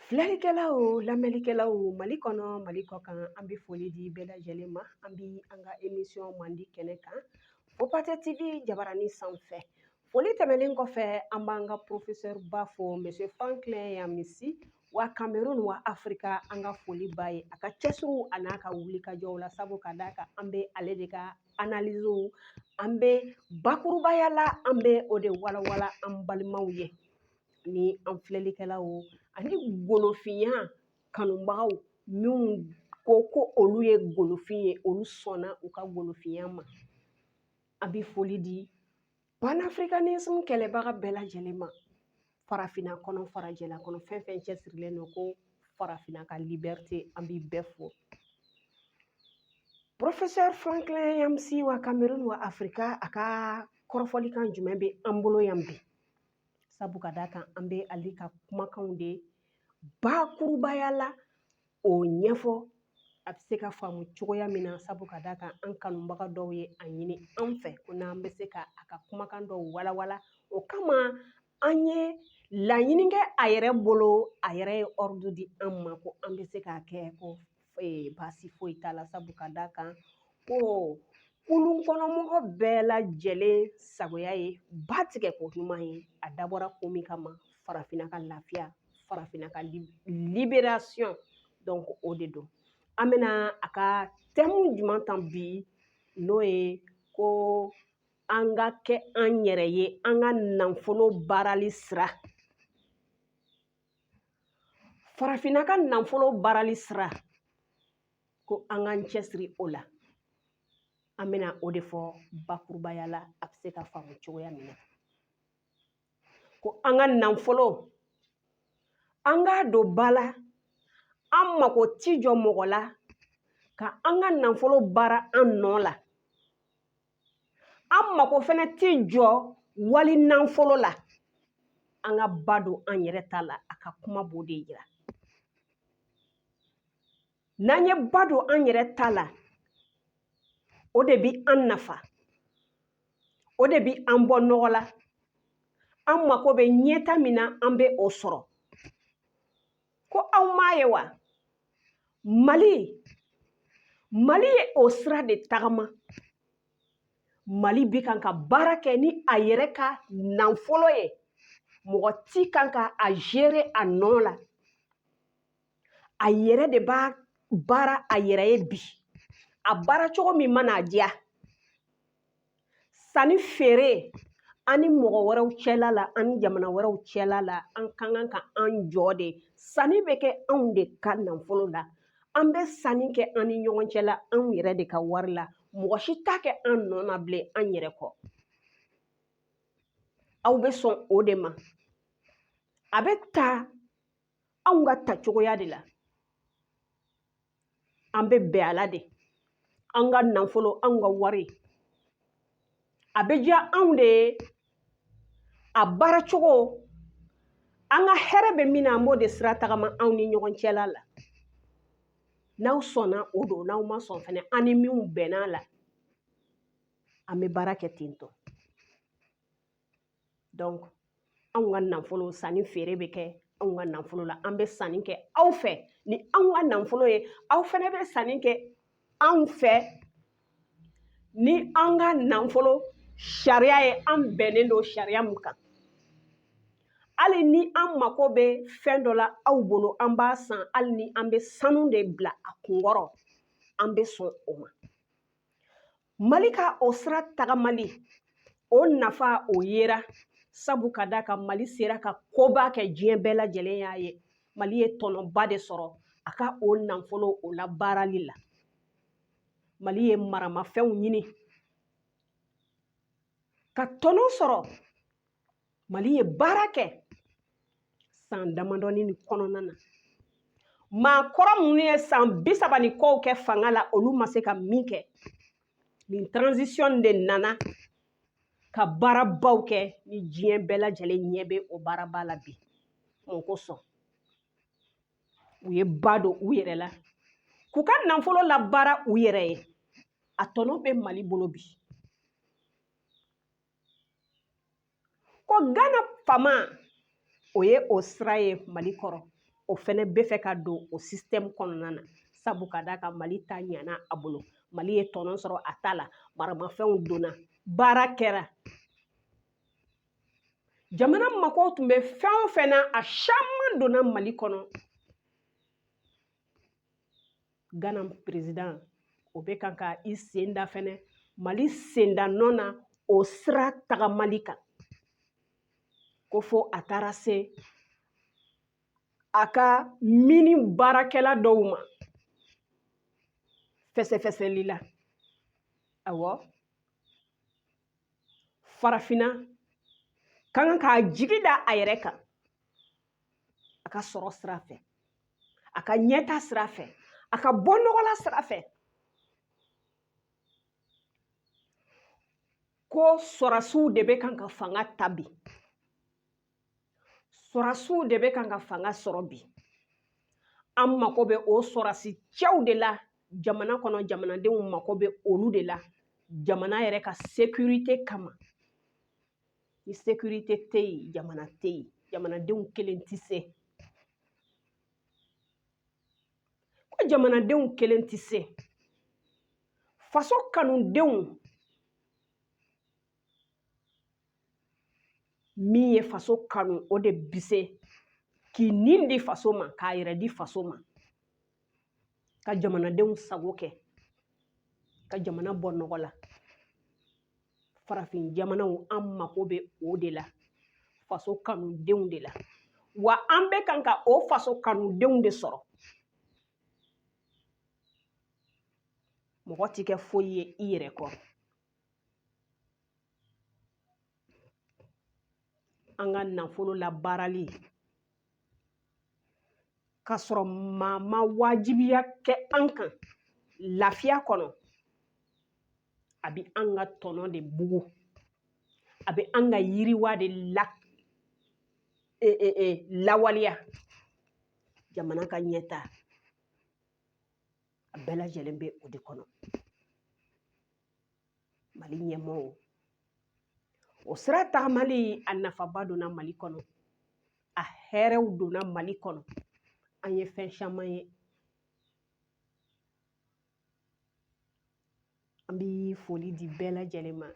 Filɛlikɛlaw lamɛnlikɛlaw mali kɔnɔ mali kɔ kan an bɛ foli di bɛɛ lajɛlen ma an bɛ an ka emisiyɔn mandi kɛnɛ kan o patɛ tv jabarani sanfɛ foli tɛmɛnen kɔfɛ an b'an ka porofesɛriba fo monsieur franklin nyamsi wa kamerun wa afirika an ka foli b'a ye a ka cɛsiriw an'a ka wulikajɔw la sabu ka d'a kan an bɛ ale de ka analiziw an bɛ bakurubaya la an bɛ o de walawala an balimaw ye ni an filɛlikɛlaw ani golofinya kanubagaw minnu ko ko olu ye golofin ye olu sɔnna u ka golofinya ma an bɛ foli di panafricanisme kɛlɛbaga bɛɛ lajɛlen ma farafinna kɔnɔ farajɛla kɔnɔ fɛn fɛn cɛsirilen don ko farafinna ka liberite an b'i bɛɛ fo professeur franklin nyamsi wa kamerun wa afrika a ka kɔrɔfɔlikan jumɛn bɛ an bolo yan bi sabu ka d'a kan an bɛ ale ka kumakanw de bakurubaya la o ɲɛfɔ a bɛ se ka faamu cogoya min na sabu ka d'a kan an kanubaga dɔw ye a ɲini an fɛ ko n'an bɛ se ka a ka kumakan dɔw walawala o kama an ye laɲini kɛ a yɛrɛ bolo a yɛrɛ ye ɔridu di an ma ko an bɛ se k'a kɛ ko baasi foyi t'a la sabu ka d'a kan ko kulun kɔnɔ mɔgɔ bɛɛ lajɛlen sagoya ye ba tigɛ ko ɲuman ye a dabɔra ko min kama farafinna ka lafiya farafinna ka liberation donc o de don an bɛna a ka tɛmu jumɛn ta bi n'o ye ko an ka kɛ an yɛrɛ ye an ka nafolo baarali sira farafinna ka nafolo baarali sira ko an k'an cɛsiri o la an bɛna o de fɔ bakurubaya la a bɛ se ka faamu cogoya min na ko an ka nafolo an k'a don ba la an mako ti jɔ mɔgɔ la ka an ka nafolo baara an nɔ la an mako fana ti jɔ wali nafolo la an ka ba don an yɛrɛ ta la a ka kuma b'o de yira n'an ye ba don an yɛrɛ ta la o de bi an nafa o de bi an bɔ nɔgɔ la an mako bɛ ɲɛta min na an bɛ o sɔrɔ ko aw m'a ye wa mali mali ye o sira de tagama mali bi kan ka baara kɛ ni a yɛrɛ ka nanfolo ye mɔgɔ ti kan ka a gérer a nɔ la a yɛrɛ de b'a baara a yɛrɛ ye bi a baara cogo min mana a diya sanni feere an ni mɔgɔ wɛrɛw cɛla la an ni jamana wɛrɛw cɛla la an ka kan ka an jɔ de sanni bɛ kɛ anw de ka nafolo la an bɛ sanni kɛ an ni ɲɔgɔn cɛla anw yɛrɛ de ka wari la mɔgɔ si t'a kɛ an nɔ na bilen an yɛrɛ kɔ aw bɛ sɔn o de ma a bɛ ta anw ka ta cogoya de la an bɛ bɛn a la de an ka nafolo anw ka wari a bɛ diya anw de ye a baara cogo an ka hɛrɛ bɛ min na an b'o de sira tagama anw ni ɲɔgɔn cɛla la n'aw sɔnna o don n'aw ma sɔn fɛnɛ an ni minnu bɛnn'a la an bɛ baara kɛ ten tɔ donc anw ka nafolo sanni feere bɛ kɛ anw ka nafolo la an bɛ sanni kɛ aw fɛ ni anw ka nafolo ye aw fɛnɛ bɛ sanni kɛ anw fɛ ni an ka nafolo sariya ye an bɛnnen don sariya min kan hali ni an mako bɛ fɛn dɔ la aw bolo an b'a san hali ni an bɛ sanu de bila a kunkɔrɔ an bɛ sɔn o ma mali ka o sira tagamali o nafa o yera sabu ka d'a kan mali sera ka koba kɛ diɲɛ bɛɛ lajɛlen y'a ye mali ye tɔnɔba de sɔrɔ a ka o nafolo o labaarali la mali ye maramafɛnw ɲini ka tɔnɔ sɔrɔ mali ye baara kɛ san damadɔnin in kɔnɔna na maakɔrɔ minnu ye san bi saba ni kɔw kɛ fanga la olu ma se ka min kɛ nin transition de nana ka baarabaw kɛ ni diɲɛ bɛɛ lajɛlen ɲɛ bɛ o baaraba la bi mun kosɔn u ye ba don u yɛrɛ la k'u ka nafolo labaara u yɛrɛ ye a tɔnɔ bɛ mali bolo bi ko gana faama o ye o sira ye mali kɔrɔ o fɛnɛ bɛ fɛ ka don o sisitɛmu kɔnɔna na sabu ka d'a kan mali ta ɲana a bolo mali ye tɔnɔ sɔrɔ a ta la maramafɛnw donna baara kɛra jamana mako tun bɛ fɛn o fɛn na a caman donna mali kɔnɔ gana perezidan o bɛ kan ka i sen da fɛnɛ mali senda nɔ na o sira tagamali kan ko fɔ a taara se a ka mini baarakɛla dɔw ma fɛsɛfɛsɛli la awɔ farafinna ka kan k'a jigi da a yɛrɛ kan a ka sɔrɔ sira fɛ a ka ɲɛta sira fɛ a ka bɔnɔgɔla sira fɛ ko sɔrɔdasiw de bɛ kan ka fanga ta bi sɔrɔdasiw de bɛ kan ka fanga sɔrɔ bi an mako bɛ o sɔrɔdasi cɛw de la jamana kɔnɔ jamanadenw mako bɛ olu de la jamana yɛrɛ ka sekirite kama ni sekirite tɛ yen jamana tɛ yen jamanadenw kelen tɛ se ko jamanadenw kelen tɛ se faso kanudenw min ye faso kanu o de bi se k'i nin di faso ma k'a yɛrɛ di faso ma ka jamanadenw sago kɛ ka jamana bɔ nɔgɔ la farafin jamanaw an mako bɛ o de la faso kanudenw de la wa an bɛ kan ka o faso kanudenw de sɔrɔ mɔgɔ ti kɛ foyi ye i yɛrɛ kɔ an ka nafolo labaarali k'a sɔrɔ maa ma wajibiya kɛ an kan lafiya kɔnɔ a bɛ an ka tɔnɔ de bugu a bɛ an ka yiriwa de la e, e, e, lawaleya jamana ka ɲɛta a bɛɛ lajɛlen bɛ o de kɔnɔ mali ɲɛmɔgɔw o sira tagamali a nafaba donna mali kɔnɔ a hɛrɛw donna mali kɔnɔ an ye fɛn caman ye an bi foli di bɛɛ lajɛlen ma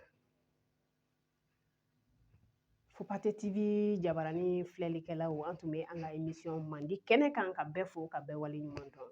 Fopate TV jabarani filɛlikɛlaw an tun bɛ an ka emisiyɔn mandi kɛnɛ kan ka bɛɛ fo ka bɛɛ waleɲumandɔn